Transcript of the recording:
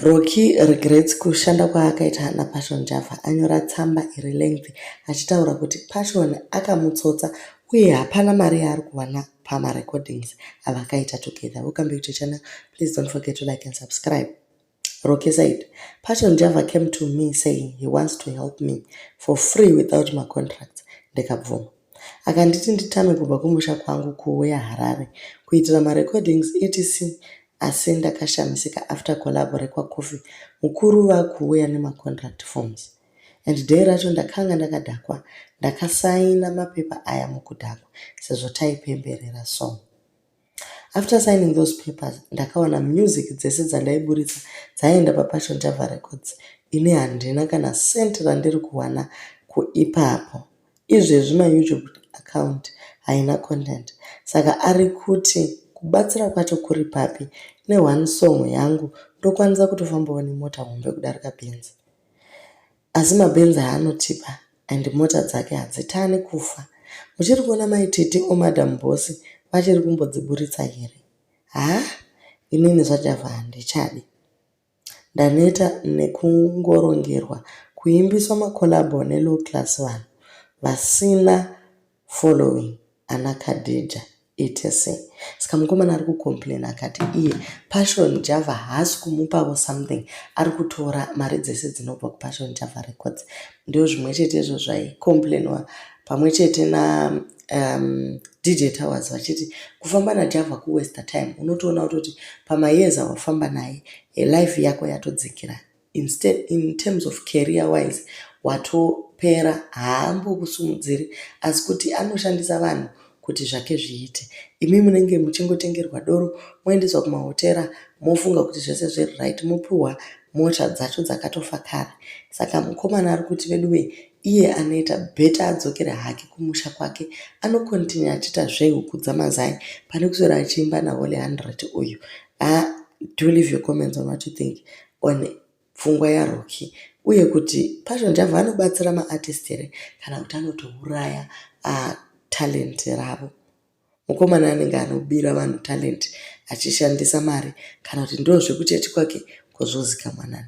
Roki regrets kushanda kwaakaita naPassion Java anyora tsamba iri lengthy achitaura kuti Passion akamutsotsa uye hapana mari yaari kuwana pamarecordings avakaita together. Welcome back to the channel. Please don't forget to like and subscribe. Roki said, Passion Java came to me saying he wants to help me for free without macontracts. Ndikabvuma. Akanditi nditame kubva kumusha kwangu kuuya Harare kuitira marecordings etc asi ndakashamisika after collabo rekwa Kofi mukuru vakuuya nemacontract forms and day racho ndakanga ndakadhakwa ndakasaina mapepa aya mukudhakwa sezvo taipemberera song After signing those papers ndakaona music dzese dzandaiburitsa dzaienda paPassion Java Records ini handina kana cent randiri kuwana kuipapo. Izvezvi my YouTube account haina content saka ari kuti kubatsira kwacho kuri papi ne one song yangu ndokwanisa kutofambawo nemota hombe kudarika Benz. Asi mabenzi haanotipa and mota dzake hadzitane kufa. Muchiri kuona mai Tete or madam boss vachiri kumbodziburitsa here? Haa inini zvaJava handichadi. Ndaneta nekungorongerwa kuimbiswa macollabo nelow class vanhu vasina following ana Khadija etc ska mukomana ari kucomplain akati iye Passion Java haasi kumupavo something ari kutora mari dzese dzinobva kuPassion Java Records ndoo zvimwe chete izvo zvaicomplainwa pamwe chete na um, DJ Towers vachiti kufamba naJava kuwaster time unotoona kutoti pamayears awafamba naye life yako yatodzikira Instead in terms of career wise watopera haambokusimudziri asi kuti anoshandisa vanhu kuti zvake zviite. Imi munenge muchingotengerwa doro moendeswa kumahotera mofunga kuti zvese zviri right mopiwa mota dzacho dzakatofa kare. Saka mukomana ari kuti veduwee iye anoita better adzokere hake kumusha kwake anocontinue achiita zvehuku dzamazai pane kuswera achiimba naHoly 100 uyu. Haa do leave your comments on what you think on pfungwa yaRoki uye kuti Passion Java anobatsira maartist here kana kuti anotouraya uh, talent ravo. Mukomana anenge anobira vanhu talent achishandisa mari kana kuti ndoo zvekuchechi kwake kozvozika mwanani.